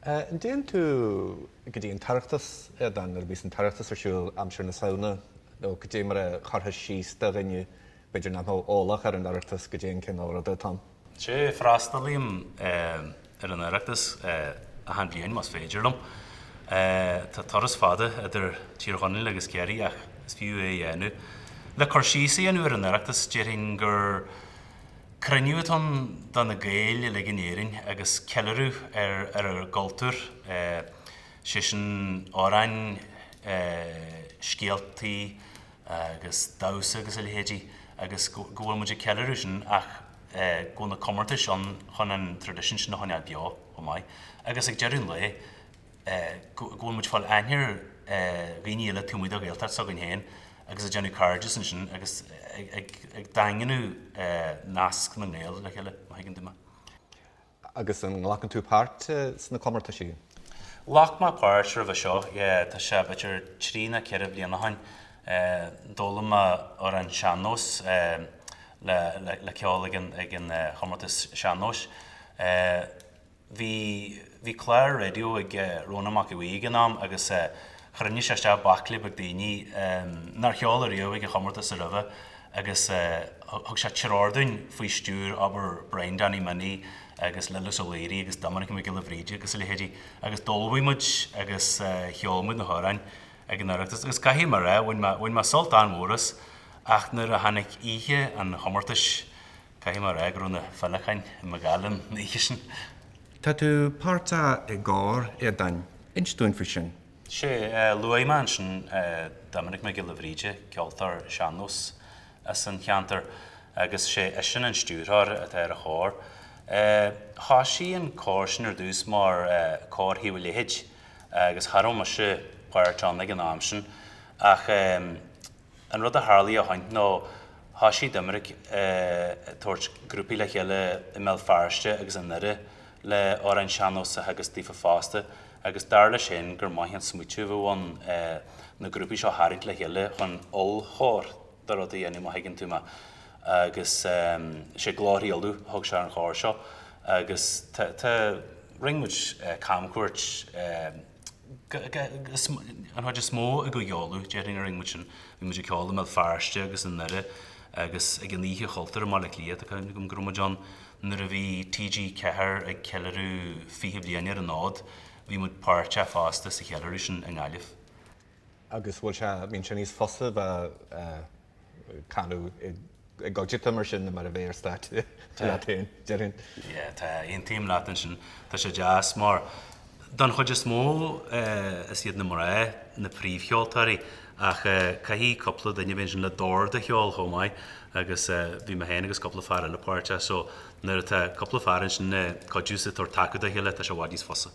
An dtéann tú go dtí an tOireachtas, a Aodáin, nuair a bhíos an tOireachtas ar siúl aimsir na Samhna, nó goidé mar a chuirfeá síos do dhuine b'fhéidir nach mbeadh eolach ar an Oireachtas goidé an cineál ruda atá ann? Sea, freastalaím ar an Oireachtas achan bhliain, más féidir liom. Tá turas fada idir Tír Chonaill agus Ciarraí ach is fiú é a dhéanamh. Le cur síos a dhéanamh ar an Oireachtas, déarfainn gur. Cruinniú atá ann do na Gaeil uilig in Éirinn agus ceiliúradh ar ár gcultúr, sé sin amhráin, scéaltaí agus damhsa agus a leithéidí agus go bhfuil muid ag ceiliúradh sin ach go bhfuil na comórtais ann chun an traidisiún sin a choinneáil beo chomh maith agus ag deireadh an lae, go bhfuil muid ag fáil aithne ar dhaoine eile taobh amuigh de Ghaeltacht s'againn féin agus ag déanamh cairdeas ansin agus ag daingniú nasc na nGael le chéile, má thuigeann tú mé. Agus an nglacann tú páirt sna comórtaisí? Ghlac mé páirt roimhe seo, yeah, tá sé b'fhéidir trí ná ceithre bliana ó shin. D'fhoghlaim mé amhrán sean-nóis le ceol ag an chomórtas sean-nóis. bhí, bhí clár raidió ag Rónán Mac Aodha Bhuí ag an am agus chruinnigh sé isteach baicle beag daoine nár cheol ariamh ag an chomórtas aroimhe agus thug sé treoir dúinn faoi stiúir, abair, Brian Danny Minnie agus Lillis Ó Laoire agus Doiminic Mac Giolla Bhríde agus a leithéidí agus d'ullmhaigh muid agus cheol muid na hamhráin ag an Oireachtas agus caithfidh mé a rá, bhain mé sult an-mhór as ach nuair a tháinig oíche an chomórtais. Caithfidh mé a rá go raibh na féileacáin i mo ghoile an oíche sin. Tá tú páirteach i gcór, a Aodáin. Inis dúinn faoi sin. Sea, luaigh mé ansin Doiminic Mac Giolla Bhríde, ceoltóir sean-nós as an cheantar agus sé eisean an stiúrthóir atá ar an chór. Thosaigh an cór sin ar dtús mar Cór Thaobh a' Leithid agus cha raibh mise páirteach ann ag an am sin ach An rud a tharlaigh ó shin nó thosaigh Doiminic ag tabhairt grúpaí le chéile i mBéal Feirste agus i nDoire le amhráin sean-nóis a theagasc daofa fosta agus dar leisean gur maith an smaoiteamh a bheadh ann na grúpaí seo a tharraingt le chéile chun ollchór de rud a dhéanamh má thuigeann tú mé agus sé Glórthaí Uladh a thug sé ar an chór seo agus tá, rinn muid camchuairt an chuid is mó i gCúige Uladh, déarfainn, a rinn muid sin, bhí muid ag ceol i mBéal Feirste agus i nDoire agus ag an Oíche Chultúir i mBaile Átha Cliath, tá cuimhne agam go raibh muid ann nuair a bhí TG4 ag ceiliúradh 20 bliain ar an fhód, bhí muid páirteach fosta sa cheiliúradh sin i nGaillimh. agus go bhfuil sé, bíonn sé níos fusa bheith ag canadh i gcuideachta mar sin ná mar a bheith ar stáitse leat féin, déarfainn. Yeah, tá, aontaím leat ansin. Tá sé deas mar, don chuid is mó, is iad na mná na príomhcheoltóirí ach caithfidh cúpla duine a bheith ansin le dord a cheol chomh maith agus bhí mé féin agus cúpla fear eile páirteach so nuair atá cúpla fear ansin ag cuidiú is ag tabhairt taca dá chéile tá sé i bhfad níos fusa.